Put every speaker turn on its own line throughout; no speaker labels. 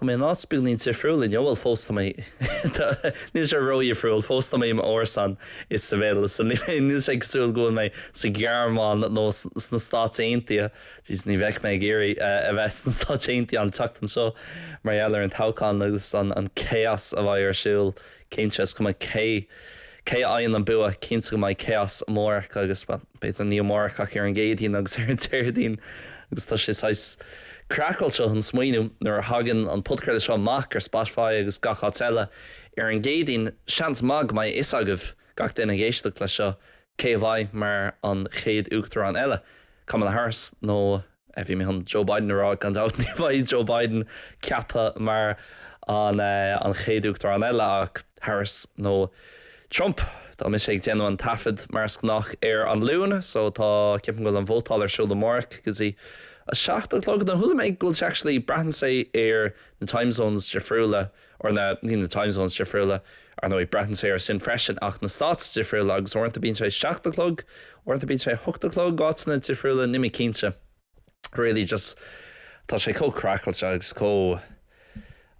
Tá mé in áit beagáinín difriúil inniu, bhuel fós tá mé, tá, níl sé ródhifriúil, fós tá mé i m'árasán i Seville so níl mé, níl sé cosúil go bhfuil mé sa Ghearmáin nó sna Stáit Aontaithe, jeez ní bheinn ag iarraidh a bheith sna Stáit Aontaithe an tseachtain seo mar gheall ar an toghchán agus an chaos a bheidh ar siúl. Cinnte, is cuma cé cé a fhaigheann an bua, cinnte go mbeidh chaos amárach agus, bhuel, b'fhéidir ní amárach ach ar an gCéadaoin agus ar an Déardaoin agus tá sé saghas craiceáilte an smaoineamh nuair a thagann an podchraoladh seo amach ar Spotify agus gach áit eile ar an gCéadaoin, seans maith go mbeidh a fhios agaibh, gach duine ag éisteacht leis seo, Cé a bheidh mar an chéad uachtarán eile? Kamala Harris nó, bhí mé chun Joe Biden a rá, gan dabht ní bheidh Joe Biden ceaptha mar an chéad uachtarán eile ach Harris nó Trump. Tá mise ag déanamh an taifeadta mar is gnách ar an Luan so tá, ceapaim go bhfuil an vótáil ar siúl amárach go dtí a seacht a chlog nó chuala mé go bhfuil sé actually, braitheann sé ar na time zones difriúla. Ar na time zones difriúla. Ar ndóigh, braitheann sé ar sin freisin ach na stáit difriúla agus uaireanta bíonn sé seacht a chlog, uaireanta bíonn sé ocht a chlog, áiteanna difriúla, níl mé cinnte. Really just tá sé chomh craiceáilte agus chomh,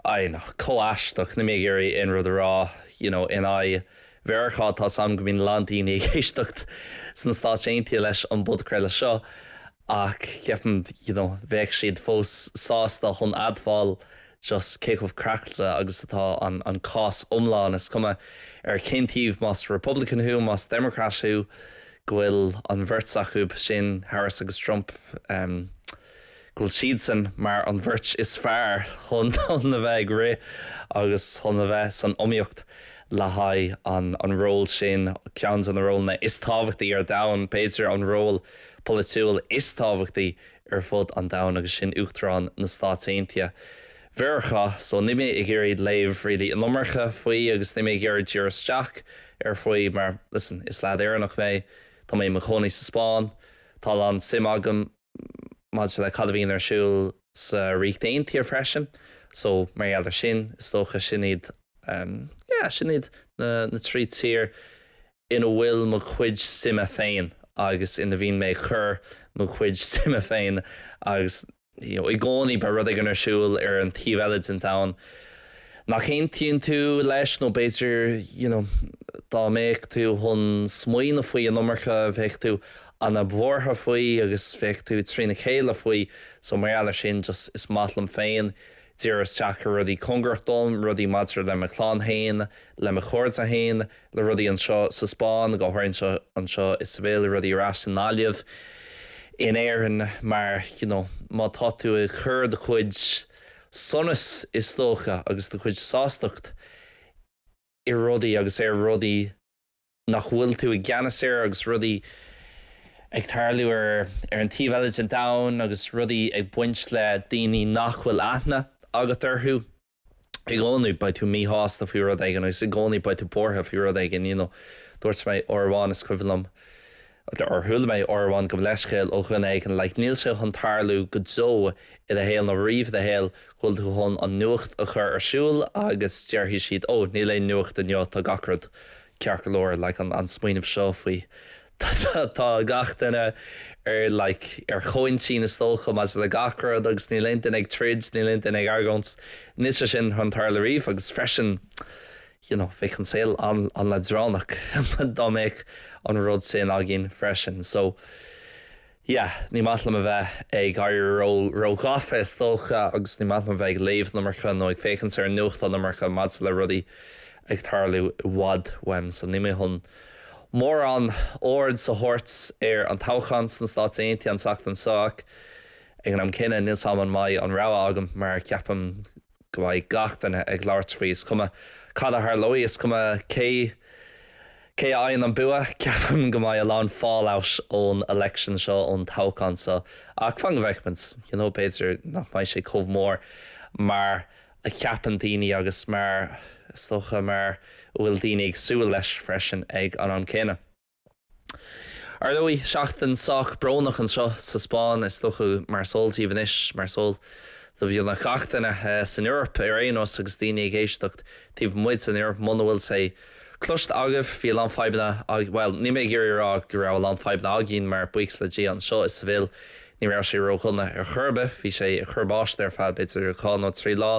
I don't know, chomh aisteach, níl mé ag iarraidh aon rud a rá, you know, in aghaidh Mheiriceá, tá's a'm go mbíonn a lán daoine ag éisteacht sna Stáit Aontaithe leis an bpodchraoladh seo ach ceapaim, you know, bheadh siad fós sásta chun admháil just cé chomh craiceáilte agus atá an an cás iomlán, is cuma ar cén taobh, más Republican thú, más Democrat thú, go bhfuil an bheirt acu sin, Harris agus Trump, em, go bhfuil siadsan mar an bheirt is fearr chun a bheith ag rith agus chun a bheith san iomaíocht le haghaidh an an ról sin, ceann de na rólanna is tábhachtaí ar domhan, b'fhéidir an ról polaitiúil is tábhachtaí ar fud an domhain agus sin Uachtarán na Stáit Aontaithe Mheiriceá so níl mé ag iarraidh léamh really an iomarca faoi agus níl mé ag iarraidh díriú isteach air faoi mar listen is lead Éireannach mé tá mé i mo chónaí sa Spáinn tá a lán suim agam maidir le cad a bhíonn ar siúl sa Ríocht Aontaithe freisin so mar gheall ar sin is dócha sin iad yeah sin iad na na trí tír ina bhfuil mo chuid suime féin agus ina bhíonn mé ag cur mo chuid suime féin agus you know i gcónaí beidh rud éigin ar siúl ar an taobh eile den domhan nach aontaíonn tú leis nó b'fhéidir you know dá mbeadh tú chun smaoineamh faoi an iomarca bheadh tú an-bhuartha faoi agus bheadh tú trína chéile faoi so mar gheall ar sin just is maith liom féin díriú isteach ar rudaí cóngarach dom rudaí maidir le mo chlann féin le mo chairde féin le rudaí anseo sa Spáinn, go háirithe anseo anseo i Seville, le rudaí ar ais i nGaillimh, in Éirinn mar you know má tá tú ag cur do chuid sonas is dócha agus do chuid sástacht i rudaí agus ar rudaí nach bhfuil tú i gceannas air agus rudaí ag tarlú ar ar an taobh eile den domhan agus rudaí ag baint le daoine nach bhfuil aithne agat orthu. I gcónaí beidh tú míshásta faoi rud éigin agus i gcónaí beidh tú buartha faoi rud éigin, you know. Dúirt mé uair amháin, is cuimhin liom, or chuala mé uair amháin gabh mo leithscéal ó dhuine éigin, like níl sé chun tarlú go deo i do shaol nó riamh i do shaol go bhfuil tú chun an nuacht a chur ar siúl agus déarfaidh siad, oh, níl aon nuacht inniu, tá gach rud ceart go leor, like an smaoineamh seo faoi Tá gach duine ar like ar chomhintinn is dócha maidir le gach rud agus níl aon duine ag troid, níl aon duine ag argóint. Níl sé sin chun tarlú riamh agus freisin you know bheadh an saol an-leadránach dá mbeadh an rud sin againn freisin. So. yeah ní maith liom a bheith ag éirí ró ró ghafa is dócha agus ní maith liom a bheith ag léamh an iomarca nó ag féachaint ar an nuacht an iomarca maidir le rudaí ag tarlú i bhfad uaim so níl mé chun mórán aird a thabhairt ar an toghchán sna Stáit Aontaithe an tseachtain seo ach ag an am céanna níl a fhios agam an mbeidh an rogha agam mar ceapaim go go mbeidh gach duine ag labhairt faoi, is cuma cad a tharlóidh, is cuma cé cé a fhaigheann an bua. Ceapaim go mbeidh a lán fallout ón election seo, ón toghchán seo, ach fan go bhfeicfimid. You know, b'fhéidir nach mbeidh sé chomh mór mar a cheapann daoine agus mar, is dócha, mar a bhfuil daoine ag súil leis freisin ag an am céanna. Ar ndóigh, seachtain sách brónach anseo sa Spáinn, is dócha. Mar is eol daoibh anois, mar is eol do bheagnach gach duine san Eoraip ar aon nós agus daoine ag éisteacht taobh amuigh den Eoraip, muna bhfuil sé cloiste agaibh, bhí a lán fadhbanna againn, bhuel, níl mé ag iarraidh a rá go raibh a lán fadhbanna againn mar, buíochas le Dia, anseo i Seville, ní raibh sé ró-dhona ar chor ar bith, bhí sé ag cur báistí ar feadh b'fhéidir dhá nó trí lá,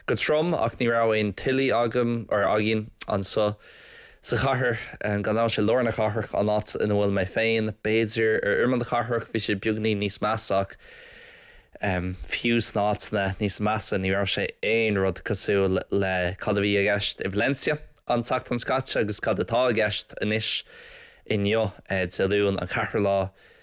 go trom ach ní raibh aon tuilí agam, or againn, anso sa chathair, gan dabht sé lár na cathrach an áit ina bhfuil mé féin, b'fhéidir ar imeall na cathrach bhí sé beagainín níos measa ach em fiú sna áiteanna níos measa ní raibh sé aon rud cosúil le cad a bhí i gceist i Valencia an tseachtain seo caite agus cad atá i gceist anois inniu eh Dé Luain an ceathrú lá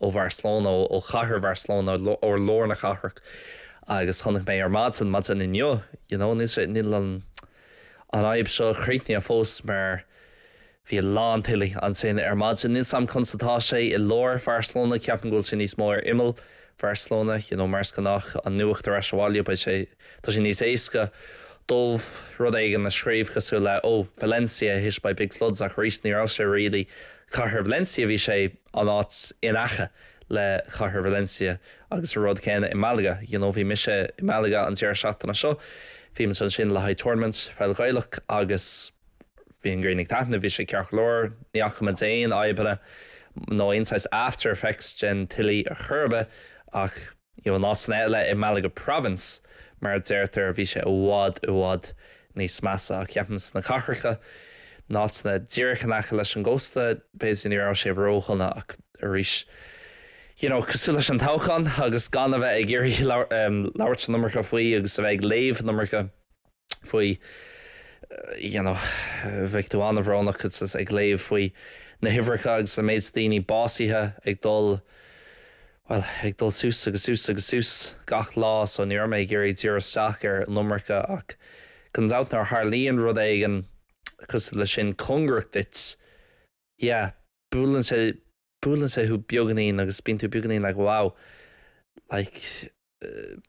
ó Bharcelona, ó chathair Bharcelona, ó lár na cathrach agus chonaic mé ar maidin, maidin inniu, you know, níl sé, níl an, an fhadhb seo críochnaithe fós mar bhí a lán tuilí ansin ar maidin. Níl a fhios agam conas atá sé i lár Bharcelona, ceapaim go bhfuil sé níos mó ar imeall Bharcelona, you know, mar is gnách an nuacht ar ais abhaile, beidh sé, Tá sé níos éasca dóibh rud éigin a scríobh cosúil le oh, Valencia hit by big floods ach arís ní raibh sé really cathair Valencia, bhí sé an áit in aice le cathair Valencia agus an rud céanna i Malaga, you know bhí mise i Malaga an deireadh seachtaine seo, bhí mé ansin le haghaidh tournament pheil Ghaelach agus bhí an ghrian ag taitneamh, bhí sé ceart go leor, ní fhaca muid aon fhadhbanna nó aon saghas after effects den tuile chor ar bith ach. In áiteanna eile i Malaga Province, mar a deirtear, bhí sé i bhfad, i bhfad níos measa, ach ceapaim sna cathracha, in áiteanna díreach in aice leis an gcósta, b'fhéidir ní raibh sé ródhona ach arís you know cosúil leis an toghchán agus gan a bheith ag iarraidh labhairt an iomarca faoi agus a bheith ag léamh an iomarca. faoi, you know, bheadh tú an-bhrónach ag léamh faoi na huimhreacha agus an méid daoine básaithe ag dul, bhuel, ag dul suas agus suas agus suas gach lá so ní raibh mé ag iarraidh díriú isteach air an iomarca ach gan dabht nuair a tharlaíonn rud éigin cosúil leis sin, cóngarach duit, yeah, buaileann sé, buaileann sé thú beagainín agus bíonn tú beagainín like wow, like.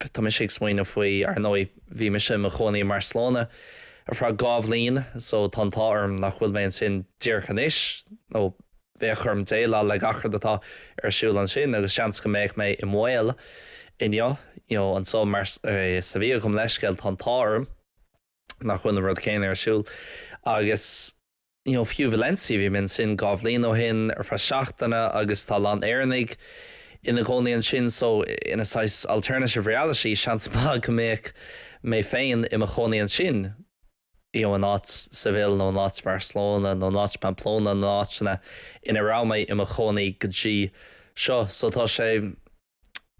Tá mise ag smaoineamh faoi, ar ndóigh. Bhí mise i mo chónaí i mBarcelona ar feadh dhá bhliain so tá an t-ádh orm nach bhfuil mé ansin díreach anois nó bheadh orm déileáil le gach rud atá ar siúl ansin agus seans go mbeadh mé i mbaol inniu you know anso i Sevilla gabhaim leithscéal tá an t-ádh orm nach bhfuil an rud céanna ar siúl agus you know, fiú Valencia, bhí mé ansin dhá bhliain ó shin ar feadh seachtaine agus tá a lán Éireannaigh ina gcónaí ansin so i saghas alternative reality seans maith go mbeadh mé féin i mo chónaí ansin you know in áit Seville nó in áit Bharcelona nó in áit Pamplona na háiteanna ina raibh mé i mo chónaí go dtí seo so tá sé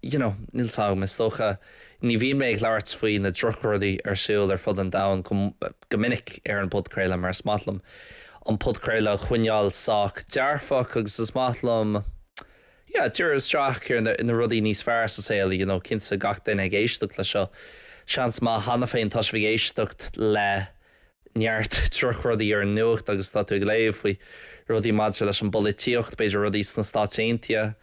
you know, níl 's agam, is dócha, ní bhíonn mé ag labhairt faoi na drochrudaí ar siúl ar fud an domhain go, go minic ar an bpodchraoladh mar is maith liom an podchraoladh a choinneáil sách dearfach agus is maith liom, yeah, díriú isteach ar na, na rudaí níos fearr sa saol, you know, cinnte gach duine ag éisteacht le seo, seans maith cheana féin tá sibh ag éisteacht le. neart drochrudaí ar an nuacht agus tá tú ag léamh faoi rudaí maidir leis an bpolaitíocht, b'fhéidir rudaí sna Stáit Aontaithe,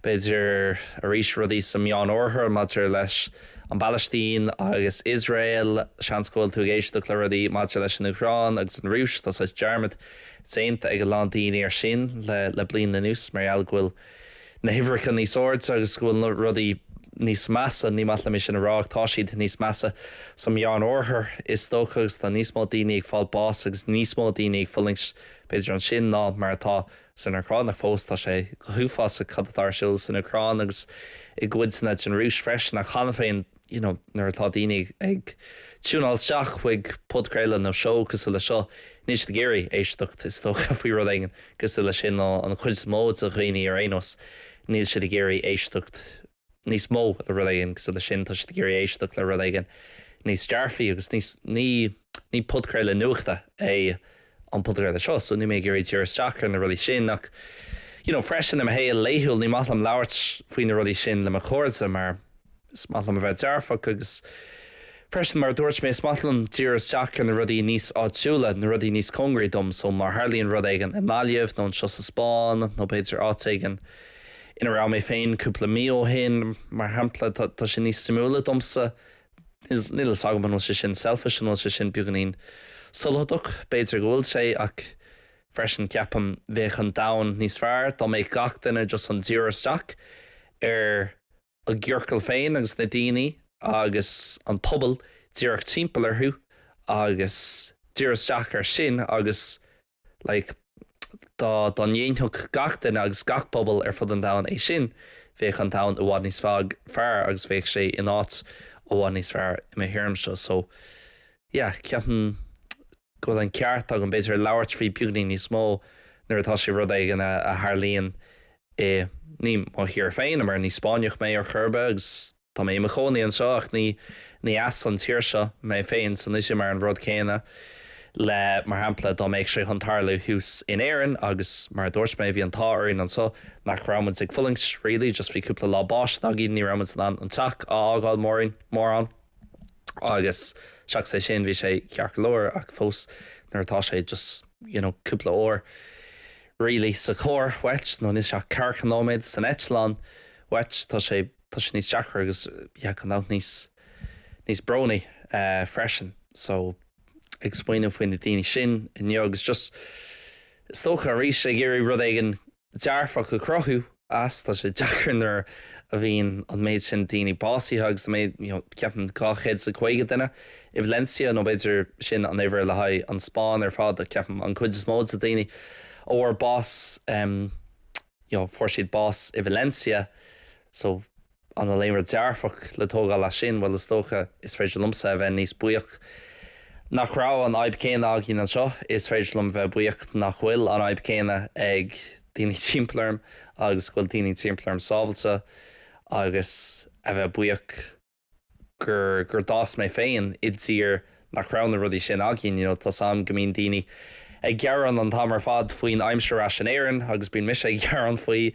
b'fhéidir arís rudaí sa Meánoirthear maidir leis an bPalaistín agus Iosrael, seans go bhfuil tú ag éisteacht le rudaí maidir leis an Úcráin agus an Rúis, tá saghas dearmad déanta ag a lán daoine ar sin le bliain anuas mar gheall go bhfuil. na huimhreacha níos airde agus go bhfuil na rudaí níos measa, ní maith liom é sin a rá ach tá siad níos measa sa Mheán-Oirthear is dócha agus tá níos mó daoine ag fáil bás agus níos mó daoine ag fulaingt b'fhéidir ansin ná mar atá san Úcráin ach fós tá sé go huafásach cad atá ar siúl san Úcráin agus i gcodanna den Rúis freisin ach cheana féin. you know nuair atá daoine ag tiúnáil isteach chuig podchraoladh nó seó cosúil le seo níl siad ag iarraidh éisteacht is dócha faoi rud éigin cosúil le sin nó an chuid is mó de dhaoine ar aon nós níl siad ag iarraidh éisteacht níos mó le rud éigin cosúil le sin tá siad ag iarraidh éisteacht le rud éigin níos dearfaí agus níos ní ní podchraoladh nuachta é an PodGaeilge seo so níl mé ag iarraidh díriú isteach ar na rudaí sin ach you know freisin i mo shaol laethúil ní maith liom labhairt faoi na rudaí sin le mo chairde mar is maith liom a bheith dearfach agus freisin mar a dúirt mé is maith liom díriú isteach ar na rudaí níos áitiúla na rudaí níos cóngaraí dom so má tharlaíonn rud éigin i nGaillimh nó anseo sa Spáinn nó b'fhéidir áit éigin ina raibh mé féin cúpla mí ó shin mar shampla tá sé níos suimiúla domsa níl 's agam an bhfuil sé sin selfish, an bhfuil sé sin beagáinín sotalach, b'fhéidir go bhfuil sé ach freisin ceapaim bheadh an domhan níos fearr dá mbeadh gach duine just chun díriú isteach ar a gciorcal féin agus na daoine agus an pobal díreach timpeall orthu agus díriú isteach ar sin agus Like, dá, dá ndéanfadh gach duine agus gach pobal ar fud an domhain é sin, bheadh an domhan i bhfad níos fearr, fearr agus bheadh sé in áit i bhfad níos fearr i mo thuairimse. So, yeah, ceapaim go bhfuil an ceart agam, b'fhéidir, labhairt faoi beagáinín níos mó nuair atá sé rud éigin a, a tharlaíonn i, ní mo thír féin, i mar ní Spáinneach mé ar chor ar bith agus. Tá mé i mo chónaí anseo ach ní ní as an tír seo mé féin so níl sé mar an rud céanna le mar shampla dá mbeadh sé chun tarlú thuas in Éirinn agus mar a dúirt mé bhí an t-ádh orainn anseo nach raibh muid ag fulaingt really just bhí cúpla lá báistí againn ní raibh muid in ann an teach a fhágáil mórán agus seachas é sin bhí sé ceart go leor ach fós nuair atá sé just you know cúpla uair really sa charr wait nó níl sé ach ceathracha nóiméad san eitleán wait tá sé tá sé níos deacra agus you know chomh maith níos, níos brónaí freisin. So, ag smaoiniú faoi na daoine sin inniu agus just is dócha arís ag iarraidh rud éigin dearfach a chruthú as, tá sé deacair nuair a bhíonn an méid sin daoine básaithe agus an méid, you know, ceapaim dhá chéad is a caoga duine i Valencia nó b'fhéidir sin an uimhir le haghaidh an Spáinn ar fad ach ceapaim an cuid is mó dos na daoine a bhfuair bás, em, you know fuair siad bás i Valencia so an bhfuil aon rud dearfach le tógáil as sin? Bhuel is dócha is féidir liomsa a bheith níos buíoch nach raibh an fhadhb céanna againn anseo, is féidir liom bheith buíoch nach bhfuil an fhadhb céanna ag daoine timpeall orm agus go bhfuil daoine timpeall orm sábháilte agus a bheith buíoch. gur gur d'fhás mé féin i dtír nach raibh na rudaí sin againn you know tá 's a'm go mbíonn daoine ag gearán an t-am ar fad faoin aimsir ar ais in Éirinn agus bíonn mise ag gearán faoi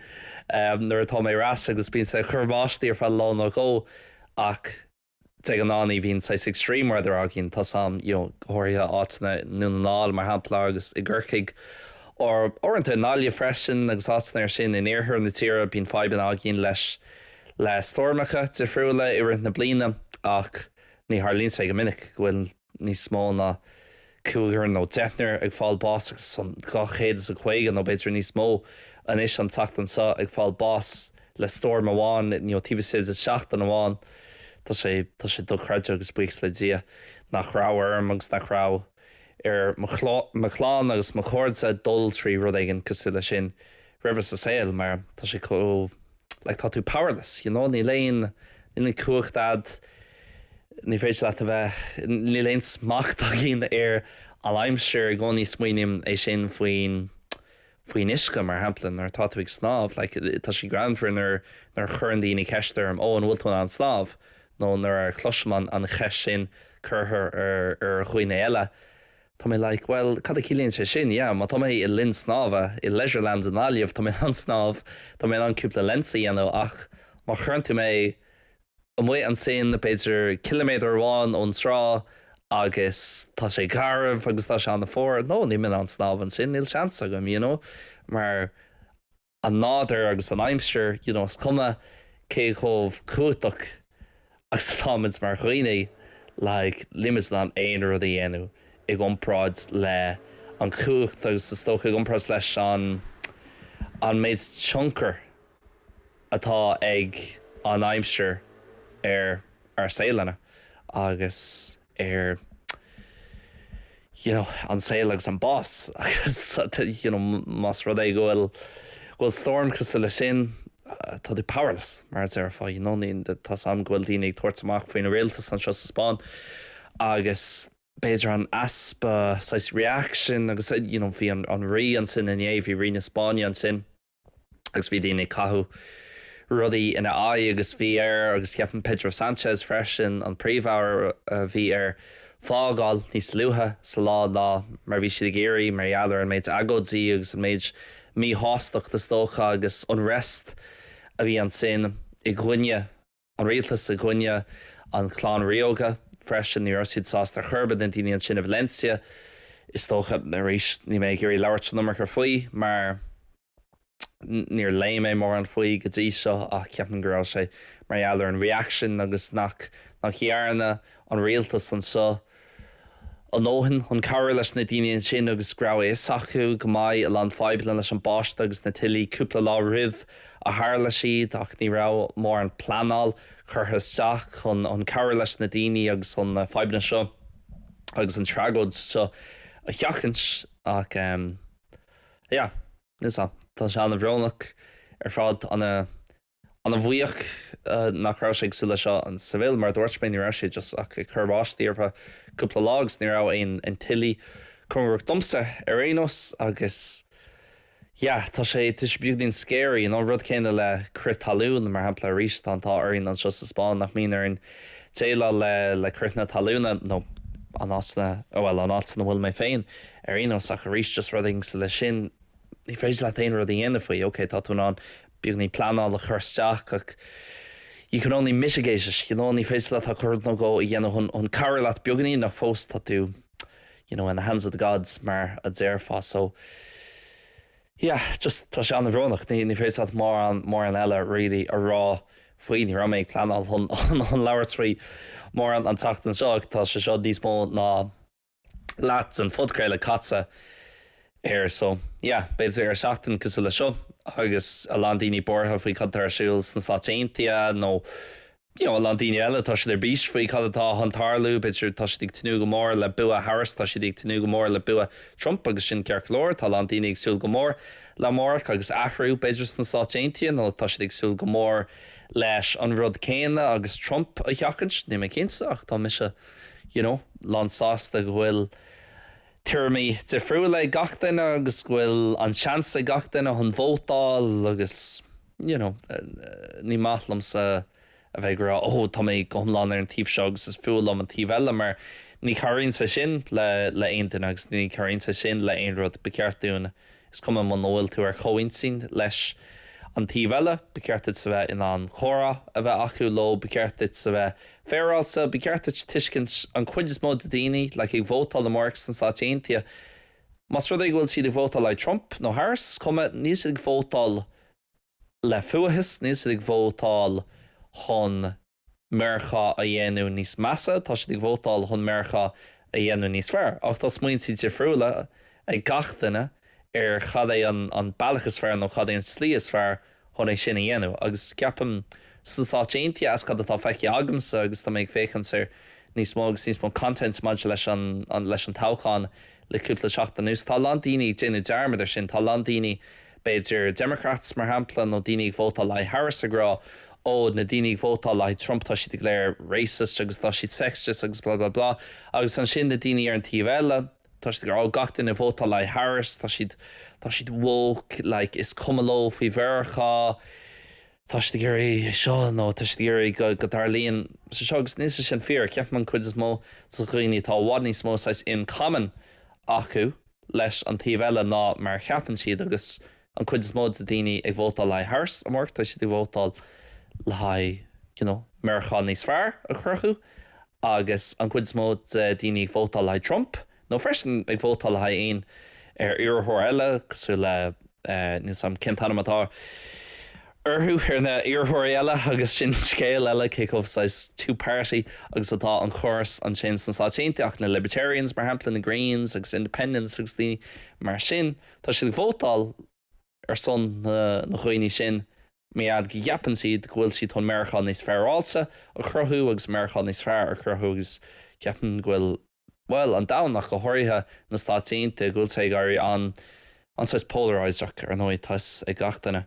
ehm nuair atá mé ar ais agus bíonn sé ag cur báistí ar feadh lá nó dhó ach de ghnáth ní bhíonn saghas extreme weather againn tá 's a'm you know go háirithe áiteanna i nDún na nGall mar shampla agus i gCorcaigh or uaireanta i nGaillimh freisin agus áiteanna mar sin in iarthar na tíre bíonn fadhbanna againn leis le stoirmeacha difriúla i rith na bliana ach ní tharlaíonn sé go minic go bhfuil níos mó ná cúigear nó deichniúr ag fáil báis agus tá 250 nó b'fhéidir níos mó anois an tseachtain seo ag fáil báis le stoirm amháin nó taobh istigh de sheachtain amháin. Tá sé, tá sé dochreidte agus buíochas le Dia nach raibh orm agus nach raibh ar mo chlann agus mo chairde dul trí rud éigin cosúil leis sin roimhe sa saol mar tá sé chomh like tá tú powerless you know níl aon níl an cumhacht a'd ní féidir leat a bheith níl aon smacht againn ar an aimsir i gcónaí smaoiním air sin faoin faoin uisce mar shampla nuair atá tú ag snámh like tá sé greannmhar nuair nuair a chuireann daoine ceist orm ó an bhfuil tú in ann snámh nó nuair a chloisim an an cheist sin curtha ar ar dhaoine eile Tá mé like bhuel cad a chiallaíonn sé sin? Yeah, má tá mé i linn snámha i Leisureland i nGaillimh tá mé in ann snámh, tá mé in ann cúpla lengths a dhéanamh ach má chuireann tú mé amuigh ansin b'fhéidir ciliméadar amháin ón trá agus tá sé garbh agus tá sé an-fhuar, no, níl mé in ann snámh ansin, níl seans agam, you know, mar. an nádúr agus an aimsir, you know is cuma cé chomh cumhachtach agus atáimid mar dhaoine, like nílimid in ann aon rud a dhéanamh i gcomparáid leis an chumhacht agus is dócha i gcomparáid leis an an méid tionchar atá ag an aimsir ar ár saolanna agus ar you know an saol agus an bás agus you know más rud é go bhfuil go bhfuil storm cosúil le sin tá tú powerless mar a déarfá you know tá a fhios agam go bhfuil daoine ag tabhairt amach faoin rialtas anseo sa Spáinn agus b'fhéidir an easpa saghas reaction agus you know bhí an an rí ansin inné bhí rí na Spáinne ansin agus bhí daoine ag caitheamh rudaí ina aghaidh agus bhí air agus ceapaim Pedro Sanchez freisin an príomh-aire bhí air fágáil níos luaithe sa lá ná mar a bhí siad ag iarraidh mar gheall ar an méid agóidí agus an méid míshástacht is dócha agus unrest a bhí ansin i gcoinne an rialtas i gcoinne an chlann ríoga freisin. Ní raibh siad sásta ar chor ar bith na daoine ansin i Valencia is dócha. Arís níl mé ag iarraidh labhairt an iomarca faoi mar níor léigh mé mórán faoi go dtí seo ach ceapaim go raibh sé mar gheall ar an reaction agus nach dhearna an rialtas anseo, a ndóthain chun cabhrú leis na daoine ansin agus go raibh a fhios acu go mbeadh a lán fadhbanna leis an mbáisteach agus na tuilte cúpla lá roimh a tharla siad ach ní raibh mórán pleanáil curtha isteach chun cabhrú leis na daoine agus chun na fadhbanna seo agus an tragóid seo a sheachaint ach yeah tá sé an-bhrónach ar fad an Ana bhuíoch nach raibh sé cosúil le seo in Seville mar dúirt mé ní raibh sé just ach ag cur báistí ar feadh cúpla lá agus ní raibh aon tuilte cóngarach domsa ar aon nós agus yeah tá sé tá sé beagáinín scary you know rud céanna le crith talún mar shampla arís tá an t-ádh orainn anseo sa Spáinn nach mbíonn orainn déileáil le le critheanna talún nó an áit na oh well an áit ina bhfuil mé féin ar aon nós ach arís just rud éigin cosúil le sin ní féidir leat aon rud a dhéanamh faoi ok tá tú in ann Beagáinín pleanáil a chur isteach ach you can only mitigate it, you know ní féidir leat ach rud nó dhó a dhéanamh chun cabhrú leat beagáinín ach fós tá tú you know in the hands of the gods mar a déarfá so yeah just tá sé an-bhrónach, ní féidir leat mórán, mórán eile really a rá faoi, ní raibh mé ag pleanáil chun labhairt faoi mórán an tseachtain seo ach tá sé seo níos mó ná. leat den phodchraoladh caite air so yeah b'fhéidir ar seachtain cosúil le seo agus a lán daoine buartha faoi cad atá ar siúl sna Stáit Aontaithe nó you know a lán daoine eile tá siad ar bís faoi cad atá chun tarlú b'fhéidir tá siad ag tnúth go mór le bua Harris tá siad ag tnúth go mór le bua Trump agus sin ceart go leor tá a lán daoine ag súil go mór le amárach agus athrú b'fhéidir sna Stáit Aontaithe nó tá siad ag súil go mór leis an rud céanna agus Trump a sheachaint níl mé cinnte ach tá mise you know, lánsásta go bhfuil tuairimí difriúla ag gach duine agus go bhfuil an seans ag gach duine chun vótáil agus you know, ní maith liomsa a bheith ag rá oh tá mé go hiomlán ar an taobh seo agus is fuath liom an taobh eile mar ní chabhraíonn sé sin le aon duine agus ní chabhraíonn sé sin le aon rud, ba cheart dúinn. Is cuma muna bhfuil tú ar chomhintinn leis an taobh eile, ba cheart duit a bheith in ann comhrá a bheith acu leo, ba cheart duit a bheith féaráilte, ba cheart duit tuiscint an chuid is mó de daoine, like ag vótáil amárach sna Stáit Aontaithe, más rud é go bhfuil siad ag vótáil like Trump nó Harris, is cuma, níl siad ag vótáil le fuathas, níl siad ag vótáil chun. Meiriceá a dhéanamh níos measa, tá siad ag vótáil chun Meiriceá a dhéanamh níos fearr. Ach tá smaointe difriúla ag gach duine ar cad é an bealach is fearr nó cad é an tslí is fearr chun é sin a dhéanamh. Agus ceapaim sna Stáit Aontaithe, as cad atá feicthe agamsa agus tá mé ag féachaint ar níos mó agus níos mó content maidir leis an toghchán, Le cúpla seachtain anuas, tá a lán daoine ag déanamh dearmad ar sin. Tá a lán daoine, b'fhéidir Democrats, mar shampla, nó daoine ag vótáil le haghaidh Harris ag rá, ó, na daoine ag vótáil le haghaidh Trump, tá siad go léir racist agus tá siad sexist agus blah, blah, blah. Agus ansin na daoine ar an taobh eile, tá siad ag rá, ó, gach duine ag vótáil le haghaidh Harris, tá siad, tá siad woke, like, is cuma leo faoi Mheiriceá. tá siad ag iarraidh seo nó tá siad ag iarraidh go dtarlaíonn sé seo agus níl sé sin fíor. Ceapaim an cuid is mó de dhaoine tá i bhfad níos mó saghas in common acu leis an taobh eile ná mar a cheapann siad agus an cuid is mó de daoine ag vótáil le haghaidh Harris amárach tá siad ag vótáil le haghaidh you know Meiriceá níos fearr a chruthú agus an cuid is mó de daoine ag vótáil le haghaidh Trump Nó freisin ag vótáil le haghaidh aon iarrthóir eile cosúil le, níl 's agam cén t-ainm atá orthu, ar na iarrthóirí eile agus sin scéal eile cé chomh saghas two party agus atá an córas ansin sna Stáit Aontaithe, ach na Libertarians mar shampla, na Greens agus Independents agus daoine mar sin, tá siad ag vótáil ar son na dhaoine sin mar gheall go gceapann siad go bhfuil siad chun Meiriceá níos féaráilte a chruthú agus Meiriceá níos fearr a chruthú agus ceapaim go bhfuil bhuel, an domhan ach go háirithe na Stáit Aontaithe, go bhfuil sé ag éirí an, an saghas polarized-ach ar ndóigh tá fhios ag gach duine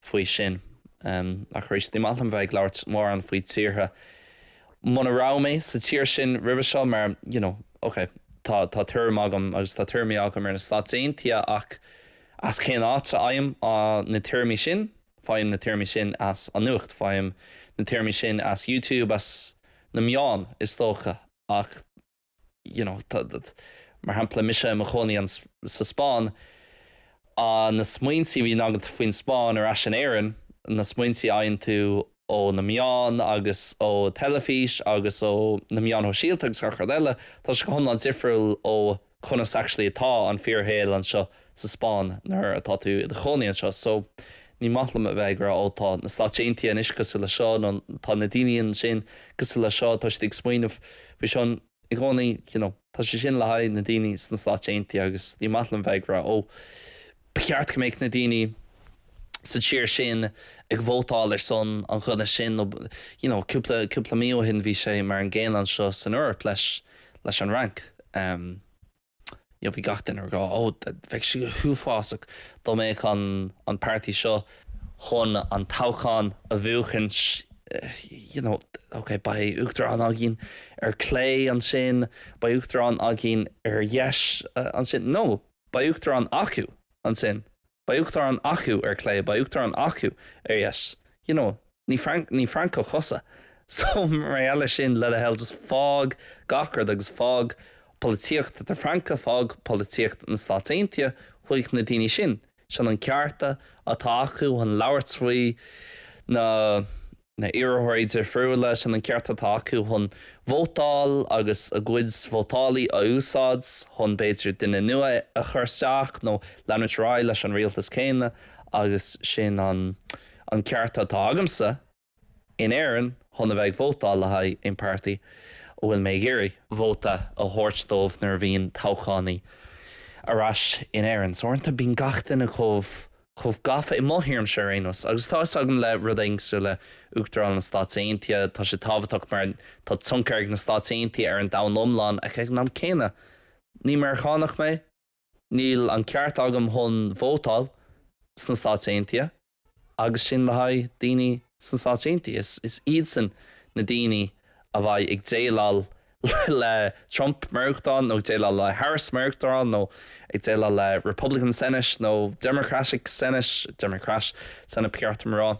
faoi sin. Ach arís, ní maith liom bheith ag labhairt mórán faoi tíortha muna raibh mé sa tír sin roimhe seo mar, you know, ok, tá, tá tuairim agam agus tá tuairimí agam ar na Stáit Aontaithe ach as cén áit a fhaighim na tuairimí sin? Faighim na tuairimí sin as an nuacht, faighim na tuairimí sin as YouTube, as na meáin is dócha. ach you know mar shampla mise i mo chónaí sa Spáinn ah na smaointe a bhíonn agat faoin Spáinn ar ais in Éirinn na smaointe a fhaigheann tú ó na meáin agus ó theilifís agus ó na meáin shóisialta agus gach rud eile tá sé go hiomlán difriúil ó conas actually atá an fíorshaol anseo sa Spáinn nuair atá tú i do chónaí anseo so ní maith liom a bheith ag rá oh tá na Stáit Aontaithe anois cosúil le seo nó tá na daoine ansin cosúil le seo tá siad ag smaoineamh faoi seo i gcónaí you know tá sé sin le haghaidh na daoine sna Stáit Aontaithe agus ní maith liom bheith ag rá oh Ba cheart go mbeadh na daoine sa tír sin ag vótáil ar son an duine sin nó you know cúpla, cúpla mí ó shin bhí sé mar an gcéanna anseo san Eoraip leis, leis an Fhrainc em you know bhí gach duine ag rá oh bheadh sé go huafásach dá mbeadh an, an páirtí seo, chun an toghchán a bhuachaint you know ok beidh Uachtarán againn ar clé ansin beidh Uachtarán againn ar dheis ansin no! Beidh Uachtarán acu. Ansin, beidh Uachtarán acu, ar clé, beidh Uachtarán acu, ar dheis. You know, ní, ní Francach thusa, so mar gheall ar sin, le do thoil, just fág gach rud agus fág polaitíocht na Fraince, fág polaitíocht na Stáit Aontaithe chuig na daoine sin. Sin an cearta atá acu chun labhairt faoi na. na iarrthóirí difriúla, sin an ceart atá acu chun vótáil agus a gcuid vótálaí a úsáid chun, b'fhéidir, duine nua a chur isteach nó leanúint ar aghaidh leis an rialtas céanna agus sin an an ceart atá agamsa in Éirinn chun a bheith ag vótáil le haghaidh aon páirtí a bhfuil mé ag iarraidh vóta a thabhairt dóibh nuair a bhíonn toghchánaí ar ais in Éirinn. So uaireanta bíonn gach duine chomh. chomh gafa i mo thuairimse ar aon nós, agus tá a fhios agam le rud éigin cosúil le Uachtarán na Stáit Aontaithe, tá sé tábhachtach mar tá tionchar ag na Stáit Aontaithe ar an domhan iomlán ach ag an am céanna, ní Meiriceánach mé, níl an ceart agam chun vótáil sna Stáit Aontaithe agus sin le haghaidh daoine sna Stáit Aontaithe, is iadsan na daoine a bheidh ag déileáil le Trump mar Uachtarán nó ag déileáil le Harris mar Uachtarán nó ag déileáil le Republican Senate nó Democratic Senate, Democrat Senate ba cheart dom a rá,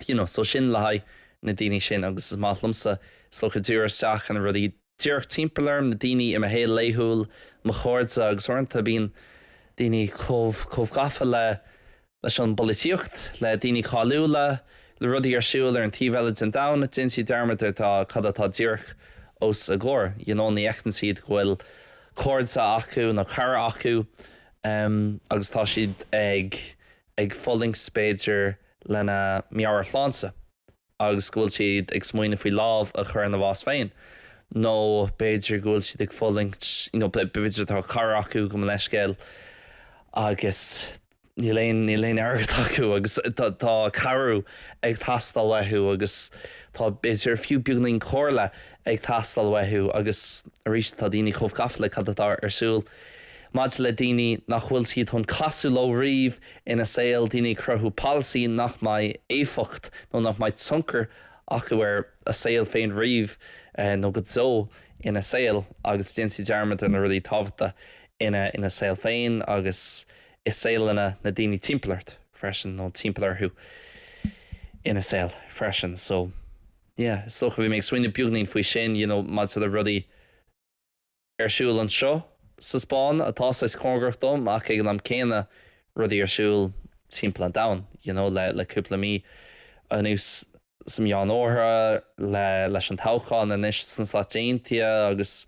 you know. So sin le haghaidh na daoine sin agus is maith liomsa, is dócha, díriú isteach ar na rudaí díreach timpeall orm, na daoine i mo shaol laethúil, mo chairde agus uaireanta bíonn daoine chomh gafa le, leis an bpolaitíocht, le daoine cáiliúla, le rudaí ar siúl ar an taobh eile den domhan, déanann siad dearmad ar cad atá díreach os a gcomhair, you know, ní fheiceann siad go bhfuil cairde acu nó cara acu agus tá siad ag fulaingt b'fhéidir lena meabhairshláinte. agus go bhfuil siad ag smaoineamh faoi lámh a chur ina bhás féin nó b'fhéidir go bhfuil siad ag fulaingt you know b'fhéidir tá cara acu gabh mo leithscéal agus níl aon níl aon airgead acu agus tá tá cabhrú ag teastáil uathu agus tá b'fhéidir fiú beagainín comhairle ag teastáil uathu agus arís tá daoine chomh gafa le cad atá ar siúl maidir le daoine nach bhfuil siad chun casadh leo riamh ina saol, daoine ag cruthú polasaí nach mbeidh éifeacht nó nach mbeidh tionchar acu ar a saol féin riamh nó go deo ina saol agus déantar dearmad ar na rudaí tábhachtacha ina saol féin agus i saoleanna na daoine timpeall ort freisin nó timpeall orthu ina saol freisin so yeah is dócha bhí mé ag smaoineamh beagainín faoi sin you know maidir le rudaí Ar siúl anseo sa Spáinn atá, saghas cóngarach dom ach ag an am céanna rudaí ar siúl timpeall an domhain you know le le cúpla mí anuas sa meánoirthear le leis an toghchán anois sna Stáit Aontaithe agus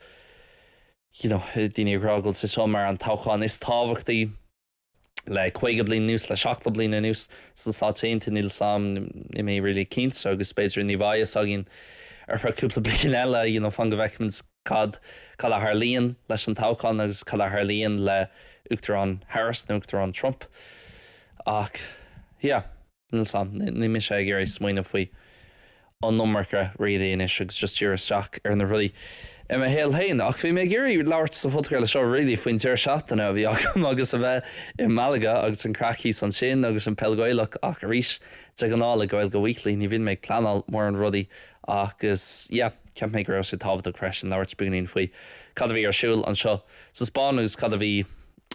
you know daoine ag rá go bhfuil sé seo mar an toghchán is tábhachtaí le 50 bliain anuas, le 70 bliain anuas sna Stáit Aontaithe. Níl 's 'am, níl mé really cinnte agus b'fhéidir ní bheidh a fhios againn ar feadh cúpla bliain eile, you know, fan go bhfeicimid cad, cad a tharlaíonn leis an toghchán agus cad a tharlaíonn le Uachtarán Harris nó Uachtarán Trump ach yeah. níl 's a'm, níl mise ag iarraidh smaoineamh faoi an iomarca really anois agus just díriú isteach ar na rudaí i mo shaol féin ach bhí mé ag iarraidh labhairt sa phodchraoladh seo really faoin deireadh seachtaine a bhí agam agus a bheith i Malaga agus an craic thíos ansin agus an peil Gaelach ach arís de ghnáth le Gaeilge Weekly ní bhíonn mé ag pleanáil mórán rudaí agus yeah cheap mé go raibh sé tábhachtach freisin labhairt beagainín faoi cad a bhí ar siúl anseo sa Spáinn agus cad a bhí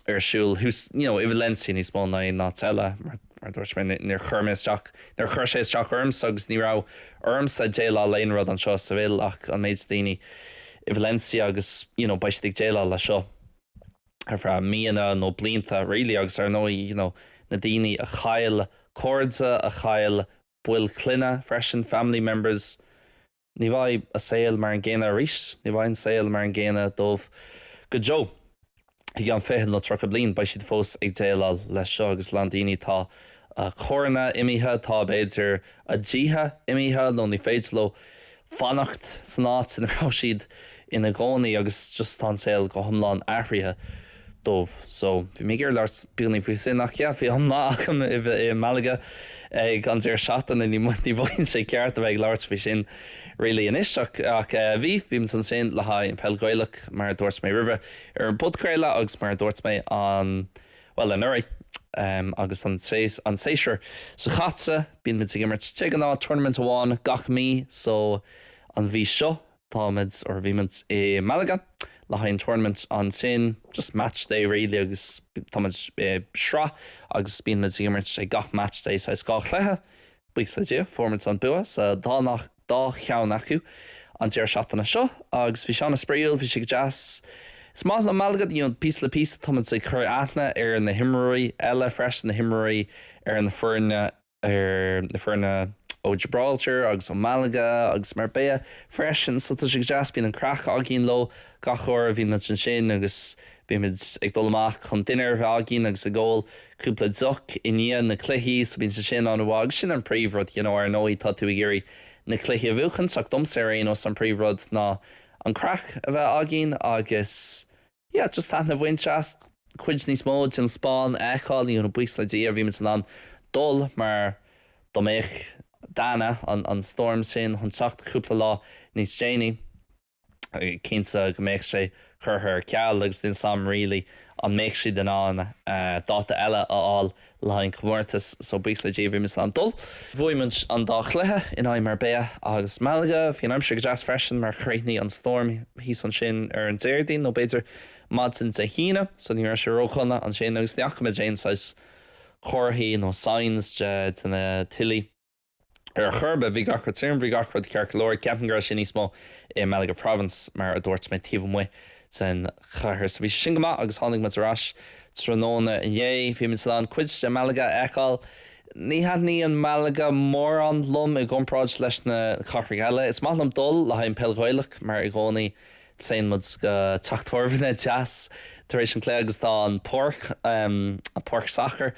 ar siúl thuas you know i Valencia níos mó ná aon áit eile mar mar dúirt mé níor chuir mé isteach níor chuir sé isteach ormsa agus ní raibh ormsa déileáil le aon rud anseo sa Bhéal ach an méid daoine i Valencia agus you know beidh siad ag déileáil le seo ar feadh míonna nó blianta really agus ar ndóigh you know na daoine a chaill cairde a chaill baill clainne freisin family members Ní bheidh a saol mar an gcéanna arís. Ní bheidh an saol mar an gcéanna dóibh go deo. I gceann fiche nó tríocha bliain beidh siad fós ag déileáil leis seo agus a lán daoine atá a gcarranna imithe, tá, b'fhéidir, a dtithe imithe nó ní féidir leo fanacht san áit ina raibh siad ina gcónaí agus just tá an saol go hiomlán athraithe. dóibh. So, bhí mé ag iarraidh labhairt beagainín faoi sin ach yeah, bhí am maith agam i Malaga ag an deireadh seachtaine, ní mhothaíonn sé ceart a bheith ag labhairt faoi sin really anois ach eh bhí, bhí muid ansin le haghaidh an peil Ghaelach mar a dúirt mé roimhe ar an bpodchraoladh agus mar a dúirt mé an, bhuel anuraidh em agus an séas, an séasúr seo caite bíonn muid ag imirt de ghnáth tournament amháin gach mí so an mhí seo Táimid, or bhí muid, i Malaga le haghaidh an tournament ansin, just match day really agus táimid i sraith agus bíonn muid ag imirt ag gach match day saghas dhá chluiche, buíochas le Dia, fuair muid an bua sa dá, dá cheann acu an deireadh seachtaine seo agus bhí sé an-spraíúil, bhí sé go deas. Is maith liom Malaga, you know, píosa le píosa táimid ag cur aithne ar na himreoirí eile freisin, na himreoirí ar na foirne, ar na foirne ó Gibraltar agus ó Malaga agus Marbella freisin so tá sé go deas bíonn an craic againn leo gach uair a bhíonn muid ansin agus bíonn muid ag dul amach chun dinnéar a bheith againn agus ag ól cúpla deoch i ndiaidh na cluichí so bíonn sé sin an-mhaith agus sin an príomh rud you know ar ndóigh tá tú ag iarraidh na cluichí a bhuachaint ach domsa ar aon nós an príomh rud ná an craic a bheith againn agus. yeah just taitneamh a bhaint as cuid níos mó den Spáinn a fheiceáil, buíochas le Dia bhí muid in ann dul mar dá mbeadh Dana, an stoirm sin, chun teacht cúpla lá níos déanaí cinnte go mbeadh sé curtha ar ceal agus níl 's 'am really an mbeadh siad in ann dáta eile a fháil Le haghaidh an chomórtais so buíochas le Dia bhí muid in ann dul. Bhuaigh muid an dá chluiche in aghaidh Marbella agus Malaga. Bhí an aimsir go deas freisin mar chríochnaigh an stoirm thíos ansin ar an Déardaoin nó b'fhéidir maidin Dé hAoine so ní raibh sé ródhona ansin agus ní fhaca muid aon saghas comharthaí nó signs de, de na tuilte. ar chor ar bith. Bhí gach rud tirim, bhí gach rud ceart go leor. Ceapaim go raibh sé níos mó i Malaga Province mar a dúirt mé taobh amuigh den chathair. So bhí sé sin go maith agus tháinig muid ar ais tráthnóna inné. Bhí muid in ann cuid de Malaga a fheiceáil. Ní thaitníonn Malaga mórán liom i gcomparáid leis na cathracha eile. Is maith liom dul le haghaidh an pheil Ghaelach mar i gcónaí téann muid go teach tábhairne beag deas tar éis an cluiche agus tá an páirc, an páirc sacair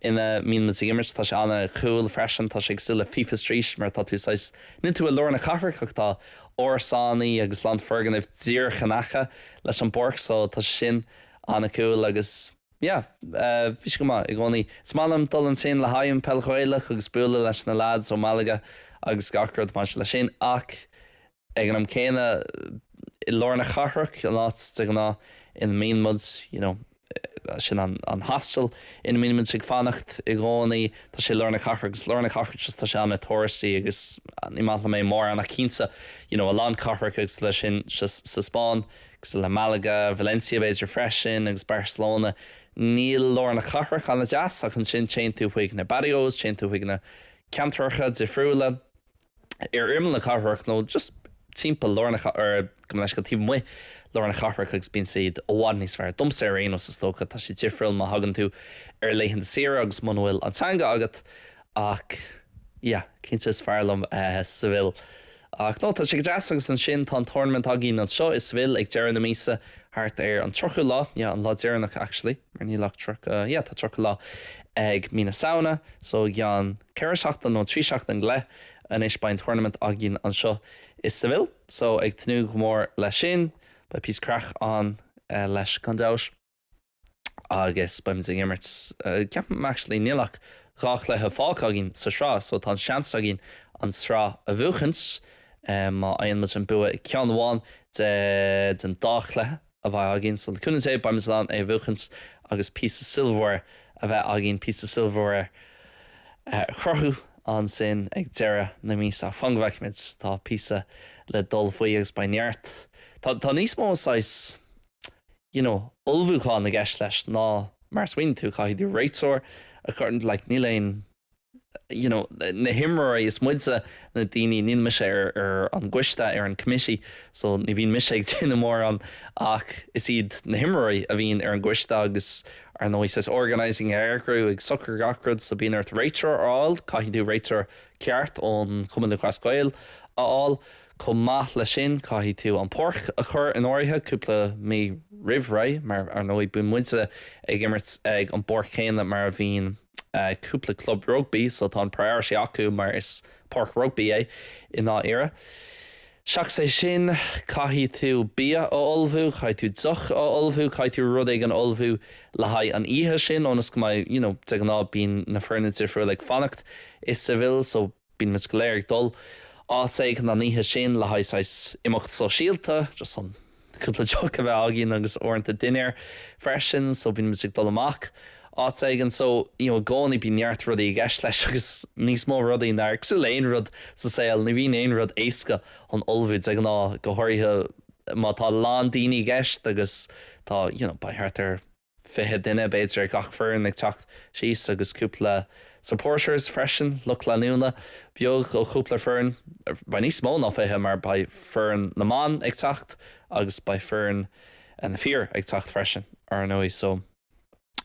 ina mbíonn muid ag imirt, tá sé an-cool freisin, tá sé cosúil le Fifa Street mar tá tú saghas, níl tú i lár na cathrach ach tá árasánaí agus a lán foirgnimh díreach in aice leis an bpáirc so tá sé sin an-cool agus yeah, bhí sé go maith i gcónaí. Is maith liom dul ansin le haghaidh an Peil Ghaelach agus bualadh leis na lads ó Malaga agus gach rud maidir leis sin ach Ag an am céanna, lár na cathrach, an áit de ghnáth ina mbíonn muid, you know, sin an hostel ina mbíonn muid ag fanacht i gcónaí, tá sé i lár na cathrach agus lár na cathrach just tá sé ana touristy agus ní maith liom é mórán ach cinnte, you know, a lán cathracha cosúil leis sin just sa Spáinn, cosúil le Malaga, Valencia b'fhéidir freisin agus Barcelona, níl lár na cathrach ana deas ach ansin téann tú chuig na barrios, téann tú chuig na ceantracha difriúla. ar imeall na cathrach nó just timpeall lár na cathrach, or, gabh mo leithscéal, taobh amuigh de lár na cathrach agus bíonn siad i bhfad níos fearr. Domsa ar aon nós is dócha tá sé difriúil má thagann tú ar laethanta saoire agus muna bhfuil an teanga agat ach yeah cinnte is fearr liom Seville. Ach no tá sé go deas agus ansin tá an tournament againn anseo i Seville ag deireadh na míosa, thart ar an 30ú lá, yeah an lá deireanach actually mar níl ach 30, yeah tá 30 lá ag mí na Samhna so i gceann 4 seachtain nó 3 seachtain go leith anois beidh an tournament againn anseo i Seville so ag tnúth go mór leis sin beidh píosa craic ann, beidh sé gan dabht agus beimid ag imirt cé, ceapaim actually níl ach dhá chluiche fágtha againn sa tsraith so tá an seans againn an sraith a bhuachaint má fhaigheann muid an bua i ceann amháin de den dá chluiche. a bheidh againn so le cúnamh Dé, beimid in ann é a bhuachaint agus píosa silverware a bheith againn, píosa silverware a chruthú ansin ag deireadh na míosa. Fan go bhfeicimid. Tá píosa le dul fós agus beidh neart, tá, tá níos mó saghas, you know, ullmhúcháin i gceist leis ná mar a smaoiníonn tú. Caithfidh tú réiteoir a chur, like, níl aon, you know, na himreoirí, is muide na daoine, níl mise ar, ar an gcoiste, ar an committee, so ní bhíonn mise ag déanamh mórán ach is iad na himreoirí a bhíonn ar an gcoiste agus ar ndóigh saghas organising, ag eagrú, ag socrú gach rud so bíonn ort réiteoir a fháil, caithfidh tú réiteoir ceart ón Chumann Lúthchleas Gael a fháil, chomh maith leis sin caithfidh tú an páirc a chur in áirithe cúpla mí roimh ré mar ar ndóigh bíonn muide ag imirt ag an bpáirc chéanna mar a bhíonn cúpla club rugbaí so tá an priority acu mar is páirc rugbaí é i ndáiríre. Seachas é sin caithfidh tú bia a ullmhú, caithfidh tú deoch a ullmhú, caithfidh tú rud éigin a ullmhú le haghaidh an oíche sin ionas go mbeidh, you know, de ghnáth bíonn na foirne difriúil ag fanacht i Seville so, Bíonn muid go léir ag dul áit éigin an oíche sin le haghaidh saghas imeacht sóisialta, just chun cúpla deoch a bheith againn agus uaireanta dinnéar freisin, so bíonn muid ag dul amach áit éigin. So, you know, i gcónaí bíonn neart rudaí i gceist leis agus níos mó rudaí ná, cosúil le aon rud sa saol, ní bhíonn aon rud éasca chun ullmhú de ghnáth, go háirithe má tá a lán daoine i gceist agus tá, you know, beidh thart ar. 20 duine b'fhéidir ag gach foireann ag teacht síos agus cúpla supporters freisin, lucht leanúna, beag ó chúpla foireann. Beidh níos mó ná 20 mar beidh foireann na mban ag teacht agus beidh foireann na fir ag teacht freisin ar ndóigh so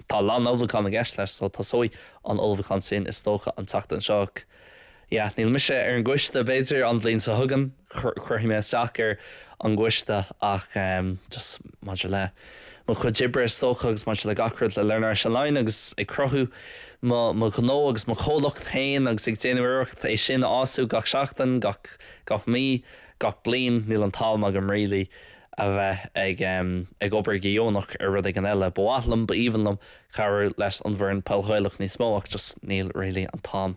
tá a lán ullmhúchán i gceist leis so tosóidh an ullmhúchán sin is dócha an tseachtain seo. Yeah, níl mise ar an gcoiste, b'fhéidir an bhliain seo chugainn cuirfidh mé isteach ar an gcoiste ach em just maidir le mo chuid oibre is dócha agus maidir le gach rud le Learn Irish Online agus ag cruthú mo mo ghnó agus mo chomhlacht féin agus ag déanamh iarracht é sin a fhású gach seachtain gach gach mí gach bliain níl an t-am agam really a bheith ag em ag obair go dheonach ar rud éigin eile ba mhaith liom b'aoibhinn liom cabhrú leis an bhfoireann peil Ghaelach níos mó ach just níl really an t-am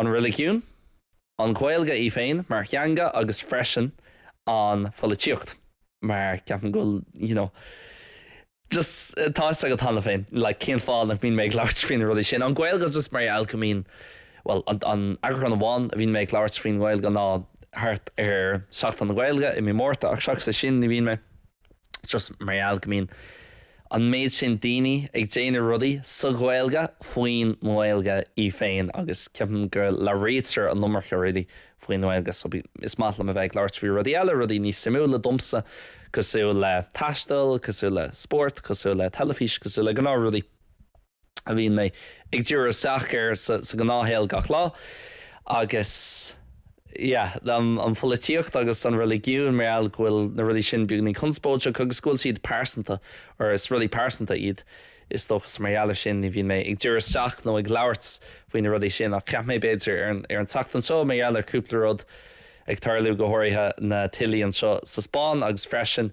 An reiligiún, an Ghaeilge í féin mar theanga agus freisin an pholaitíocht. Mar, ceapaim go bhfuil you know just tá fhios agat cheana féin like cén fáth nach mbíonn mé ag labhairt faoi na rudaí sin. An Ghaeilge just mar gheall go mbíonn bhuel an an eagrán amháin a bhíonn mé ag labhairt faoin Ghaeilge ná thart ar Seachtain na Gaeilge i mí Márta ach seachas é sin ní bhíonn mé just mar gheall go mbíonn an méid sin daoine ag déanamh rudaí sa Ghaeilge faoin nGaeilge í féin agus ceapaim go labhraítear an iomarca rudaí faoin nGaeilge so is maith liom a bheith ag labhairt faoi rudaí eile, rudaí níos suimiúla domsa cosúil le taisteal, cosúil le spórt, cosúil le teilifís, cosúil le gnáth rudaí. a bhíonn mé ag díriú isteach air sa ghnáthshaol gach lá agus yeah an pholaitíocht agus an reiligiún mar gheall go bhfuil na rudaí sin beagainín conspóideach agus go bhfuil siad pearsanta or is rudaí pearsanta iad is dócha so mar gheall ar sin ní bhíonn mé ag díriú isteach nó ag labhairt faoi na rudaí sin ach cheap mé b'fhéidir ar an ar an tseachtain seo mar gheall ar cúpla rud ag tarlú go háirithe na tuilí anseo sa Spáinn agus freisin